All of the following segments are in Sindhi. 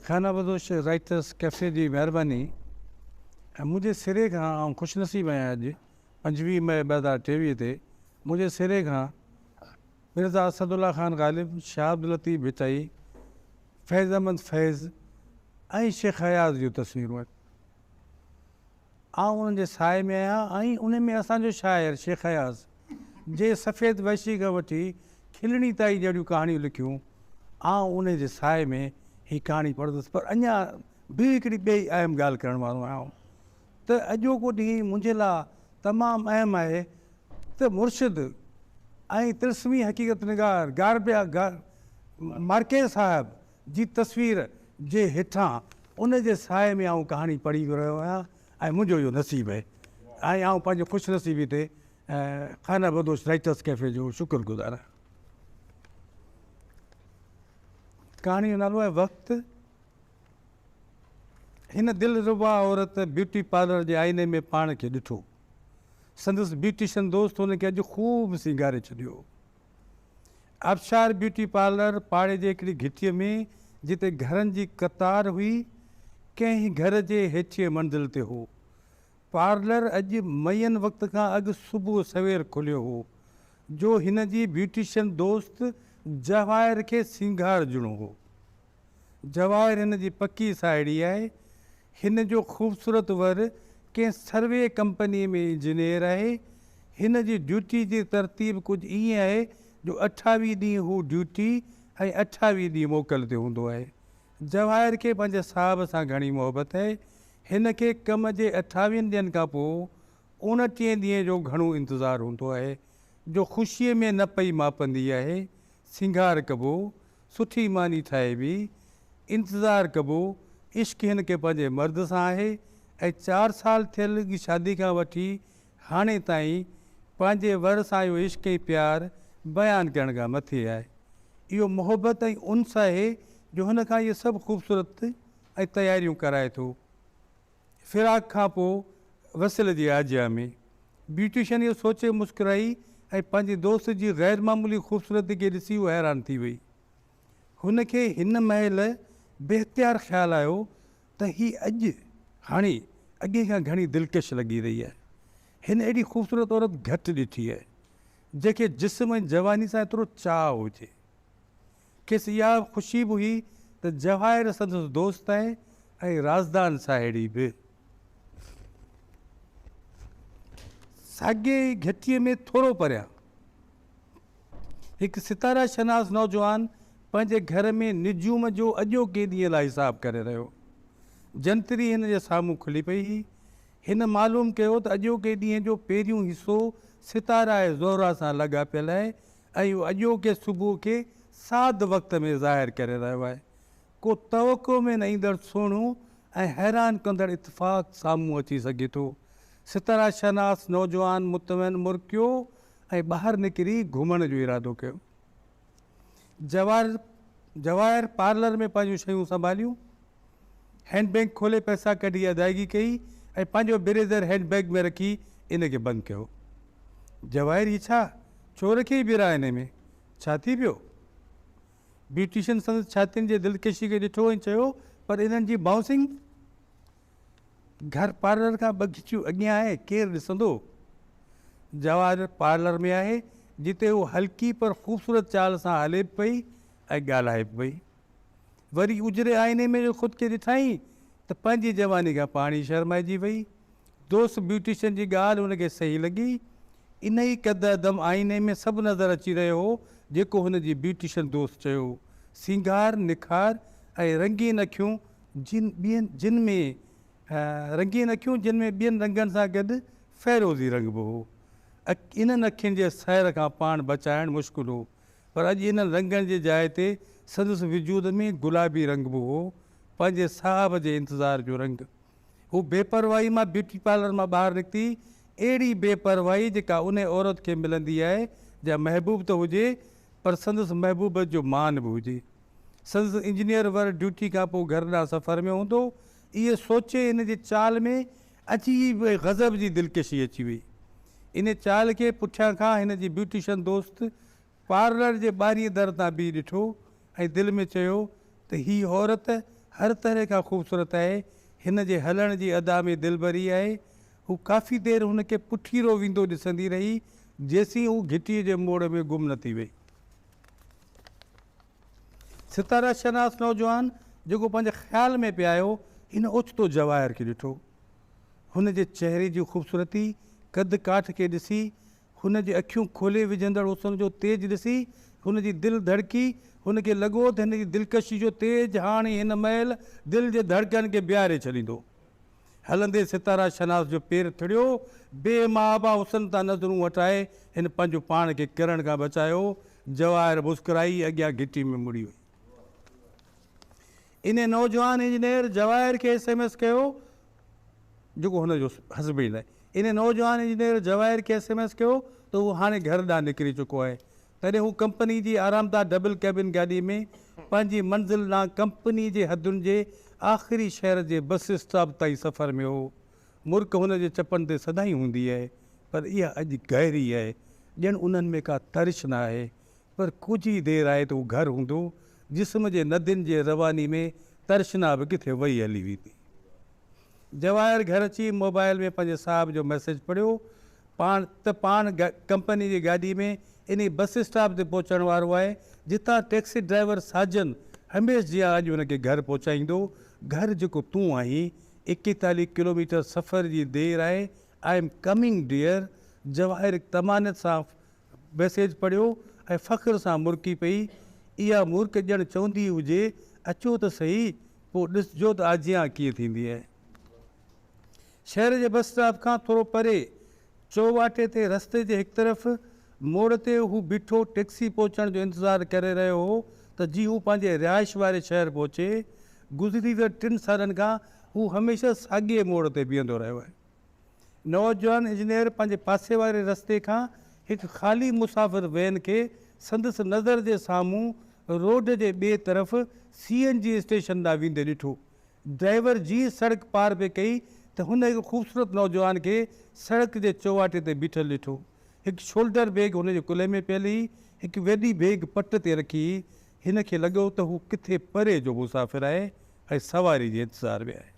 خانه بدوش رائٽرس ڪيفي جي مهرباني ۽ منهنجي سري کان آئون خوش نصيب آهيان اڄ پنجويهه مئي ٻه هزار ٽيويهه تي منهنجي سري کان مرزا اسد الله خان غالب، شاهه عبداللطيف ڀٽائي، فيض احمد فيض ۽ شيخ اياز جون تصويرون آهن. آئون انهن جي سايي ۾ آهيان ۽ انهي ۾ اسان جو شاعر شيخ اياز جي سفيد وحشي کان وٺي کلڻي تائين جهڙيون ڪهاڻيون لکيون آئون انهي جي سايي ۾ هي ڪهاڻي پڙهندس پر اڃا به هڪڙي ٻئي اهم ڳالهه ڪرڻ وارو آهيان ته اڄوڪو ڏينهن منهنجي لاء تمام اهم آهي ته مرشد ۽ طلسمي حقيقت نگار گاربيا مارڪيز صاحب جي تصوير جي هيٺان ان جي سايي ۾ آئون ڪهاڻي پڙهي رهيو آهيان ۽ منهنجو اهو نصيب اهي ۽ آئون پنهنجي خوش نصيبي تي خانه بدوش رائيٽرس ڪيفي جو شڪر گذار آهيان. ڪهاڻي جو نالو آهي وقت. هن دلربا عورت بيوٽي پارلر جي آئيني ۾ پاڻ کي ڏٺو. سندس بيوٽيشن دوست هن کي اڄ خوب سينگاري ڇڏيو هو. آبشار بيوٽي پارلر پاڙي جي هڪڙي گهٽيء ۾، جتي گهرن جي قطار هئي، ڪنهن گهر جي هيٺينء منزل تي هو. پارلر اڄ معين وقت کان اڳ صبح سوير کليو هو، جو هن جي بيوٽيشن دوست جواهر کي سينگار ڏيڻو هو. جواهر هن جي پڪي ساهيڙي آهي. هن جو خوبصورت ور ڪنهن سروي ڪمپنيء ۾ انجنيئر آهي. هن جي ڊيوٽي جي ترتيب ڪجهه ائين آهي جو اٺاويهه ڏينهن هو ڊيوٽي ۽ اٺاويهه ڏينهن موڪل تي هوندو آهي. جواهر کي پنهنجي صاحب سان گهڻي محبت آهي. هن کي ڪم جي اٺاويهن ڏينهن کان پوء اوڻٽيهين ڏينهن جو گهڻو انتظار هوندو آهي، جو خوشيء ۾ نه پئي ماپندي آهي. سينگار ڪبو. سٺي ماني ٺاهي ويئي. انتظار ڪبو. عشق هن کي پنهنجي مرد سان آهي ۽ چار سال ٿيل شادي کان وٺي هاڻي تائين پنهنجي ور سان اهو عشق ۽ پيار بيان ڪرڻ کان مٿي آهي. اهو محبت ۽ انس آهي جو هن کان اهي سڀ خوبصورت ۽ تياريون ڪرائي ٿو. فراق کان پوء وصل جي آجيان ۾، بيوٽيشن اهو سوچي مسڪرائي ۽ پنهنجي دوست جي غير معمولي خوبصورتي کي ڏسي هو حيران ٿي وئي. هن کي هن مهل بي اختيار خيال آيو ته هي اڄ هاڻي اڳي کان گهڻي دلڪش لڳي رهي آهي. هن اهڙي خوبصورت عورت گهٽ ڏٺي آهي، جنهن کي جسم ۽ جواني سان ايترو چاهه هجي. کيس اها خوشي به هئي ته جواهر سندس دوست آهي ۽ رازدان ساهيڙي به. ساڳيء ئي گهٽيء ۾ ٿورو پريان هڪ ستاره شناس نوجوان پنهنجي گهر ۾ نجوم جو اڄوڪي ڏينهن لاء حساب ڪري رهيو هو. جنتري هن جي سامهون کلي پئي هئي. هن معلوم ڪيو ته اڄوڪي ڏينهن جو پهريون حصو ستاره زهره سان لاڳاپيل آهي ۽ هو اڄوڪي صبح کي ساڌ وقت ۾ ظاهر ڪري رهيو آهي. ڪو توقع ۾ نه ايندڙ سهڻو ۽ حيران ڪندڙ اتفاق سامهون اچي سگهي ٿو. ستارا شناس نوجوان مطمئن مرڪيو ۽ ٻاهر نڪري گهمڻ جو ارادو ڪيو. جواهر جواهر پارلر ۾ پنهنجون شيون سنڀاليون. هينڊ بيگ کولي پئسا ڪڍي ادائگي ڪئي ۽ پنهنجو بريزر هينڊ بيگ ۾ رکي ان کي بند ڪيو. جواهر هي ڇا؟ ڇو رکيئي ٻيرا انهي ۾؟ ڇا ٿي پيو؟ بيوٽيشن سندس ڇاتين جي دلڪشي کي ڏٺو ۽ چيو، پر انهن جي بائونسنگ گهر پارلر کان ٻه گهچيون اڳيان آهي، ڪير ڏسندو؟ جواهر پارلر ۾ آهي، جتي هوء هلڪي پر خوبصورت چال سان هلي به پئي ۽ ڳالهائي به پئي. وري اجري آئيني ۾ جو خود کي ڏٺائين ته پنهنجي جواني کان پاڻ ئي شرمائجي وئي. دوست بيوٽيشن جي ڳالهه هن کي صحيح لڳي. انهيء قدعدم آئيني ۾ سڀ نظر اچي رهيو هو جيڪو هن جي بيوٽيشن دوست چيو. سينگار، نکار ۽ رنگين اکيون جن ٻين جن ۾ رنگين اکيون جن ۾ ٻين رنگن سان گڏ فيروزي رنگ به هو. انهن اکين جي سحر کان پاڻ بچائڻ مشڪل هو. پر اڄ انهن رنگن جي جاء تي سندس وجود ۾ گلابي رنگ به هو، پنهنجي صاحب جي انتظار جو رنگ. هو بي پرواهي مان بيوٽي پارلر مان ٻاهر نڪتي، اهڙي بي پرواهي جيڪا انهي عورت کي ملندي آهي جا محبوب ته هجي پر سندس محبوبيت جو مان به هجي. سندس انجنيئر ور ڊيوٽي کان پوء گهر ڏانهن سفر ۾ هوندو، اهي سوچي هن جي چال ۾ اچي به غضب جي دلڪشي اچي وئي. ان چال کي پٺيان کان هن جي بيوٽيشن دوست پارلر جي ٻاهرئين در تان بيهي ڏٺو ۽ دل ۾ چيو ته هي عورت هر طرح کان خوبصورت آهي، هن جي هلڻ جي ادا ۾ دلبري آهي. هو ڪافي دير هن کي پٺيرو ويندو ڏسندي رهي، جيسين هو گهٽيء جي موڙ ۾ گم نه ٿي وئي. ستاره شناس نوجوان جيڪو پنهنجي خيال ۾ پئي آيو، هن اوچتو جواهر کي ڏٺو. هن جي چهري جي خوبصورتي، قد ڪاٺ کي ڏسي، هن جي اکيون کولي وجهندڙ حسن جو تيج ڏسي، هن جي دل ڌڙڪي، هن کي لڳو ته هن جي دلڪشي جو تيج هاڻي هن مهل دل جي ڌڙڪن کي بيهاري ڇڏيندو. هلندي ستاره شناس جو پير ٿڙيو، بي محابا حسن تان نظرون هٽائي هن پنهنجو پاڻ کي ڪرڻ کان بچايو، جواهر مسڪرائي اڳيان گهٽي ۾ مڙي وئي. انهيء نوجوان انجنيئر جواهر کي ايس ايم ايس ڪيو، جيڪو هن جو حسبي نه. انهيء نوجوان انجنيئر جواهر کي ايس ايم ايس ڪيو ته هو هاڻي گهر ڏانهن نڪري چڪو آهي. تڏهن هو ڪمپني جي آرامده ڊبل ڪيبن گاڏي ۾ پنهنجي منزل ڏانهن ڪمپني جي حدن جي آخري شهر جي بس اسٽاپ تائين سفر ۾ هو. مرڪ هن جي چپن تي سدائين هوندي آهي، پر اها اڄ گهري آهي، ڄڻ انهن ۾ ڪا ترش نه آهي. پر ڪجهه ئي دير آهي ته هو گهر هوندو، جسم جي ندين جي رواني ۾ ترشنا به ڪٿي وهي هلي ويندي. جواهر گهر اچي موبائيل ۾ پنهنجي صاحب جو ميسيج پڙهيو پاڻ ته پاڻ ڪمپني جي گاڏي ۾ انهي بس اسٽاپ تي پهچڻ وارو آهي، جتان ٽيڪسي ڊرائيور ساجن هميشھ جيان اڄ هن کي گهر پهچائيندو. گهر جيڪو تون آهين، ايڪيتاليهه ڪلوميٽر سفر جي دير آهي I am coming dear Jawahar طمانيت سان ميسيج پڙهيو ۽ فخر سان مرڪي پئي اها مرڪ ڄڻ چوندي هجي اچو ته سهي پوء ڏسجو ته آجيان ڪيئن ٿيندي آهي شهر جي بس اسٽاپ کان ٿورو پري چوواٽي تي رستي جي هڪ طرف موڙ تي هو بيٺو ٽئڪسي پهچڻ جو انتظار ڪري رهيو هو ته جيئن هو پنهنجي رهائش واري شهر پهچي. گذريندڙ ٽن سالن کان هو هميشه ساڳئي موڙ تي بيهندو رهيو آهي. نوجوان انجنيئر پنهنجي پاسي واري رستي کان هڪ خالي مسافر وين کي سندس نظر جي سامهون روڊ جي ٻئي طرف سي اين جي اسٽيشن ڏانهن ويندي ڏٺو. ڊرائيور جيئن سڙڪ پار پئي ڪئي ته هن هڪ خوبصورت نوجوان کي سڙڪ جي چوواٽي تي بيٺل ڏٺو. هڪ شولڊر بيگ هن جي ڪلهي ۾ پيل هئي، هڪ وڏي بيگ پٽ تي رکي هئي. هن کي لڳو ته هو ڪٿي پري جو مسافر آهي ۽ سواري جي انتظار ۾ آهي.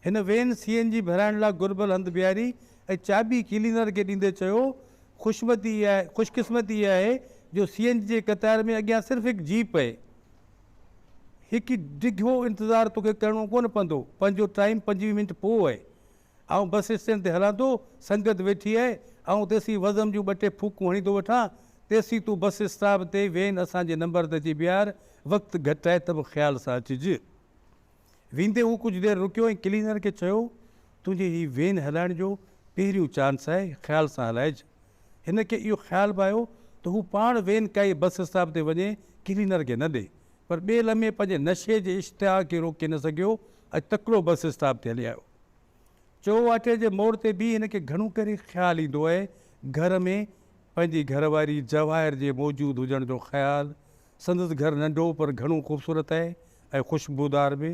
هن وين سي اين جي ڀرائڻ لاء گهربل هنڌ بيهاري ۽ چاٻي ڪلينر کي ڏيندي چيو، خوشمتي خوش قسمتي اها آهي جو سي اين جي قطار ۾ اڳيان صرف هڪ جيپ آهي. هڪ ڊگهو انتظار توکي ڪرڻو ڪونه پوندو، پنهنجو ٽائيم پنجويهه منٽ پوء آهي، آئون بس اسٽينڊ تي هلان ٿو، سنگت ويٺي آهي، آئون تيسين وزم جون ٻه ٽي ڦوڪون هڻي ٿو وٺان، تيسين تون بس اسٽاپ تي وين اسان جي نمبر تي اچي بيهار، وقت گهٽ آهي ته به خيال سان اچج. ويندي هو ڪجهه دير رڪيو ۽ ڪلينر کي چيو، تنهنجي هي وين هلائڻ جو پهريون چانس آهي، خيال سان هلائج. هن کي اهو خيال به آيو ته هو پاڻ وين ڪائي بس اسٽاپ تي وڃي ڪلينر کي نه ڏي پر ٻئي لمحي پنهنجي نشي جي اشتها کي روڪي نه سگهيو ۽ تڪڙو بس اسٽاپ تي هلي آيو. چوواٽي جي موڙ تي بيهي هن کي گهڻو ڪري خيال ايندو آهي گهر ۾ پنهنجي گهر واري جواهر جي موجود هجڻ جو خيال. سندس گهر ننڍو پر گهڻو خوبصورت آهي ۽ خوشبودار به.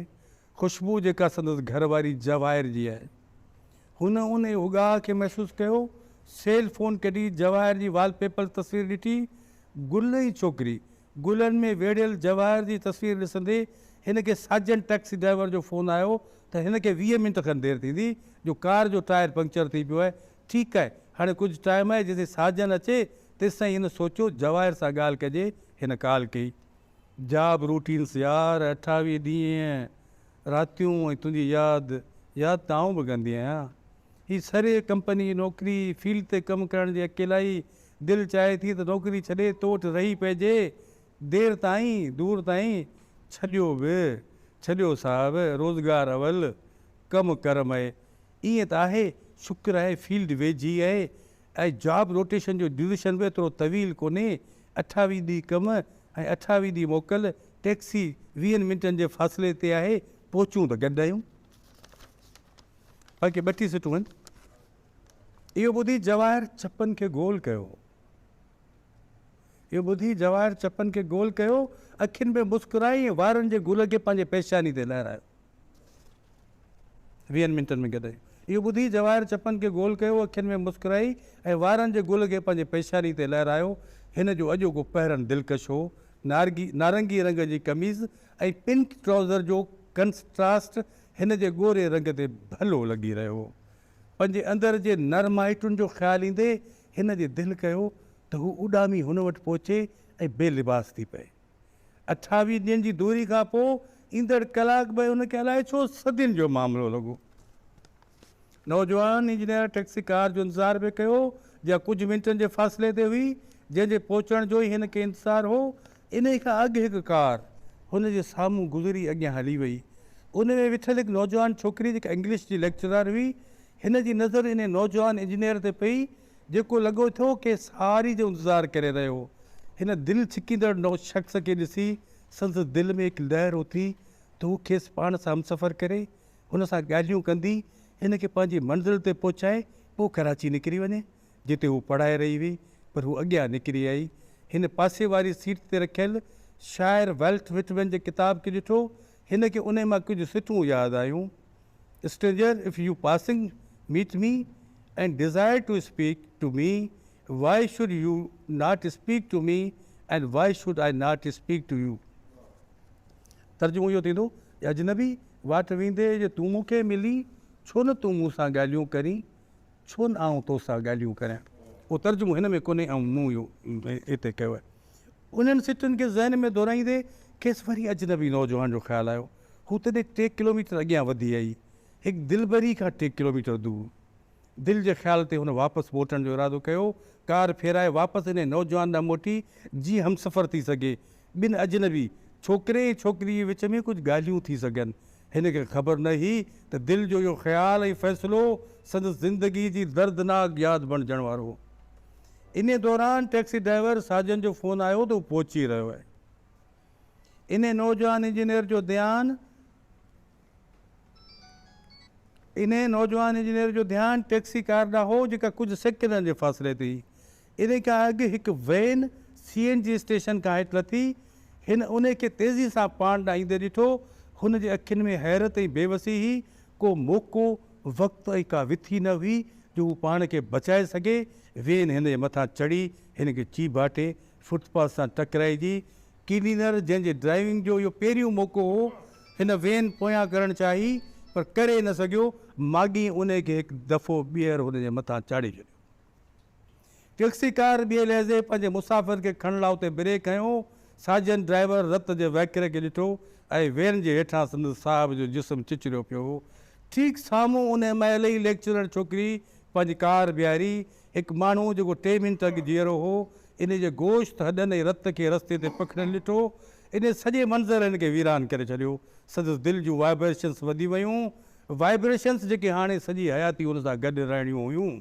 خوشبو جيڪا سندس گهر واري جواهر جي آهي. هن ان اگاهه کي محسوس ڪيو، سيل فون ڪڍي جواهر جي وال پيپر تصوير ڏٺي. گل ۽ ڇوڪري. گلن ۾ ويڙهيل جواهر جي تصوير ڏسندي هن کي ساجن ٽئڪسي ڊرائيور جو فون آيو ته هن کي ويهه منٽ کن دير ٿيندي جو ڪار جو ٽائر پنڪچر ٿي پيو آهي. ٺيڪ آهي هاڻي ڪجهه ٽائيم آهي جيسين ساجن اچي تيستائين هن سوچيو جواهر سان ڳالهه ڪجي هن ڪال ڪئي. جاب روٽينس يار اٺاويهه ڏينهن راتيون ۽ تنهنجي ياد ياد ته آئون به ڪندي آهيان هي سري ڪمپني جي نوڪري فيلڊ تي ڪم ڪرڻ جي اڪيلائي دل چاهي ٿي ته نوڪري ڇڏي تو وٽ رهي پئجي دير تائين دور تائين ڇڏيو به ڇڏيو صاحب روزگار اول ڪم ڪر مئي ائين ته آهي شڪر آهي فيلڊ ويجهي آهي ۽ جاب روٽيشن جو ڊيوريشن به ايترو طويل ڪونهي، اٺاويهه ڏينهن ڪم ۽ اٺاويهه ڏينهن موڪل، ٽيڪسي ويهن منٽن جي فاصلي تي آهي، پهچون به گڏ آهيون. باقي ٻه ٽي سٽون آهن. اهو ٻڌي جواهر ڇپن کي گول ڪيو. اهو ٻڌي جواهر چپن کي گول ڪيو، اکين ۾ مسڪرائي ۽ وارن جي گل کي پنهنجي پيشاني تي لهرايو. ويهن منٽن ۾ گڏ اهو ٻڌي جواهر چپن کي گول ڪيو، اکين ۾ مسڪرائي ۽ وارن جي گل کي پنهنجي پيشاني تي لهرايو. هن جو اڄوڪو پهرڻ دلڪش هو. نارگي نارنگي رنگ جي قميص ۽ پنڪ ٽرائوزر جو ڪنسٽراسٽ هن جي ڳوري رنگ تي ڀلو لڳي رهيو هو. پنهنجي اندر جي نرمائٽن جو خيال ايندي هن جي دل ڪيو ته هو اڏامي هن وٽ پهچي ۽ بي لباس ٿي پئي. اٺاويهه ڏينهن جي دوري کان پوء ايندڙ ڪلاڪ ٻه هن کي الائي ڇو صدين جو معاملو لڳو. نوجوان انجنيئر ٽئڪسي ڪار جو انتظار پئي ڪيو، جا ڪجهه منٽن جي فاصلي تي هئي، جنهن جي پهچڻ جو ئي هن کي انتظار هو. انهي کان اڳ هڪ ڪار هن جي سامهون گذري اڳيان هلي وئي. ان ۾ ويٺل هڪ نوجوان ڇوڪري جيڪا انگلش جي ليڪچرار هئي، هن جي نظر انهي نوجوان انجنيئر تي پئي، جيڪو لڳو ٿو ڪنهن سهاري جو انتظار ڪري رهيو هو. هن دل ڇڪيندڙ نوجوان شخص کي ڏسي، سندس دل ۾ هڪ لهر اٿي ته هو کيس پاڻ سان همسفر ڪري، هن سان ڳالهيون ڪندي، هن کي پنهنجي منزل تي پهچائي پوء ڪراچي نڪري وڃي، جتي هو پڙهائي رهي هئي، پر هو اڳيان نڪري آئي. هن پاسي واري سيٽ تي رکيل شاعر والٽ وٽمن جي ڪتاب کي ڏٺو، هن کي انهي مان ڪجهه سٽون ياد آيون. Stranger, if you passing meet me and desire to speak to me, why should you not speak to me and why should I not speak to you. ترجمو اهو ٿيندو اي اجنبي! واٽ ويندي جي تون مون کي ملين، ڇو نه تون مون سان ڳالهيون ڪرين، ڇو نه آئون تو سان ڳالهيون ڪريان. اهو ترجمو هن ۾ ڪونهي ۽ مون اهو هتي ڪيو آهي. انهن سٽن کي ذهن ۾ دورائيندي کيس وري اجنبي نوجوان جو خيال آيو. هو تڏهن ٽي ڪلوميٽر اڳيان وڌي آئي، هڪ دلبري کان ٽي ڪلوميٽر دور. دل جي خيال تي هن واپس موٽڻ جو ارادو ڪيو. ڪار ڦيرائي واپس انهيء نوجوان ڏانهن موٽي، جيئن همسفر ٿي سگهي. ٻن اجنبي، ڇوڪري ۽ ڇوڪريء جي وچ ۾ ڪجهه ڳالهيون ٿي سگهن. هن کي خبر نه هئي ته دل جو اهو خيال ۽ فيصلو سندس زندگيء جي دردناڪ ياد بڻجڻ وارو هو. انهيء دوران ٽئڪسي ڊرائيور ساجن جو فون آيو ته هو پهچي رهيو آهي. انهي نوجوان انجنيئر جو ڌيان انهي نوجوان انجنيئر جو ڌيان ٽيڪسي ڪار ڏانهن هو جيڪا ڪجهه سيڪنڊن جي فاصلي تي هئي. انهي کان اڳ هڪ van C N G station کان هيٺ لٿي. هن انهي کي تيزي سان پاڻ ڏانهن ايندي ڏٺو. هن جي اکين ۾ حيرت ۽ بيوسي هئي. ڪو موقعو، وقت ۽ ڪا وٿي نه هئي جو هو پاڻ کي بچائي سگهي. وين هن جي مٿان چڙهي هن کي چيڀاٽي فٽ پاٿ سان ٽڪرائجي، ڪلينر جنهن جي ڊرائيونگ جو اهو پهريون موقعو هو، هن وين پويان ڪرڻ چاهي پر ڪري نه سگهيو، ماڳهين انهي کي هڪ دفعو ٻيهر هن جي مٿان چاڙهي ڇڏيو. ٽيڪسي ڪار ٻئي لحظي پنهنجي مسافر کي کڻڻ لا اتي بريڪ هنيو، ساجن ڊرائيور رت جي وهڪري کي ڏٺو ۽ وين جي هيٺان سندس صاحب جو جسم چچريو پيو هو، ٺيڪ سامهون انهي مهل ئي ليڪچرر ڇوڪري پنهنجي ڪار بيهاري هڪ ماڻهو جيڪو ٽي منٽ اڳ جيئرو هو، انهي جي گوشت، هڏن ۽ رت کي رستي تي پکڙيل ڏٺو. انهي سڄي منظر هن کي ويران ڪري ڇڏيو. سندس دل جون وائبريشنس وڌي ويون، وائبريشنس جيڪي هاڻي سڄي حياتي هن سان گڏ رهڻيون هيون.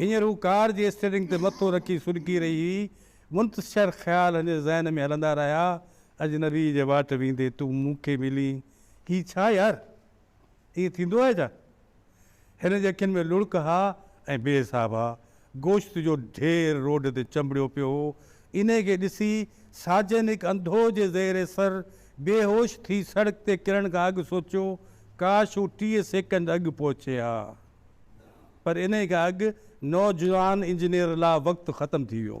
هينئر هو ڪار جي اسٽيئرنگ تي مٿو رکي سڏڪي رهي هئي. منتشر خيال هن جي ذهن ۾ هلندا رهيا، اجنبي جي واٽ ويندي تون مون کي ملين، هي ڇا يار! ائين ٿيندو آهي ڇا؟ هن جي اکين ۾ لڙڪ ها ۽ بي حساب ها. گوشت جو ڍير روڊ تي چنبڙيو پيو هو. انهيء کي ڏسي ساجن هڪ انڌو جي زير سر بيهوش ٿي سڙڪ تي ڪرڻ کان اڳ سوچيو، ڪاش هو ٽيهه سيڪنڊ اڳ پهچي ها. پر انهيء کان اڳ نوجوان انجنيئر لا وقت ختم ٿي ويو.